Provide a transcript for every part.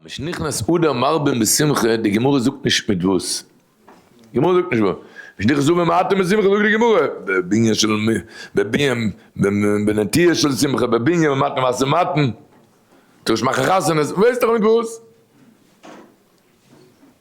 משנכנס אדר מרבין בשמחה, די גמרא זאגט נישט מיט וואס, די גמרא זאגט נישט וואס, משנכנס אדר מרטין בשמחה זאגט די גמרא, בבנין של בבנין בנטיעה של שמחה בבנין ומתן מעשר מתן, טוישט מאכן חתונות, ווייסט דאך מיט וואס.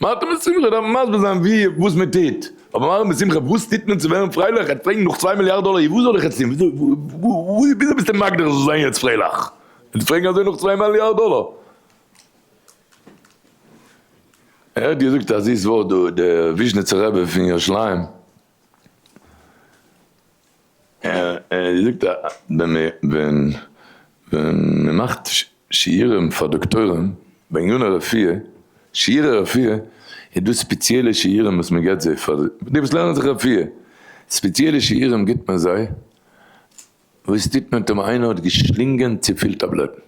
מארטין מיט שמחה דארפן מסביר זיין ווי וואס מען טוט, אבער מארטין מיט שמחה וואס טוט מען צו ווערן פרייליך? ער האט פרעגן נאך צוויי מיליארד דאלער, אי וואס זאל איך יעצט טון? וויאזוי ביסטו מגדיר איך זאל זיין יעצט פרייליך? און פרעגן אזוי נאך צוויי מיליארד דאלער? ער האט געזאגט א זיס ווארט דא, דער וויזשניצער רבי פון ירושלים ער זאגט אז ווען מען מאכט שיעורים פאר דאקטוירים בעניני רפואה, שיעורי רפואה, איז דא ספעציעלע שיעורים וואס מען געבט זיי פאר די וואס לערנען זיך רפואה, ספעציעלע שיעורים גיבט מען זיי וואס טוט מען טאמער איינער האט געשלינגען צופיל טאבלעטן?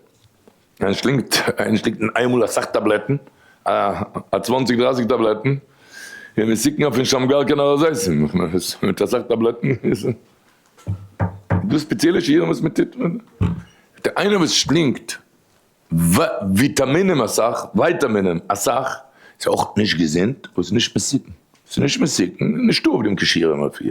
איינער שלינגט איינער שלינגט אין איינמאל אסאך טאבלעטן, א א צוואנציג דרייסיג טאבלעטן, און מסוכן אויף נישט האבן גאר קיין נאראזעיסן, מיט אסאך טאבלעטן איז דא ספעציעלע שיעורים וואס מען טוט? איינער וואס שלינגט וויטאמינען אסאך, ווייטאמינען אסאך, איז אויך נישט געזונט, אבער ס'נישט מסוכן, ס'נישט מסוכן, נישטא אויף דעם קישור אין אפי'.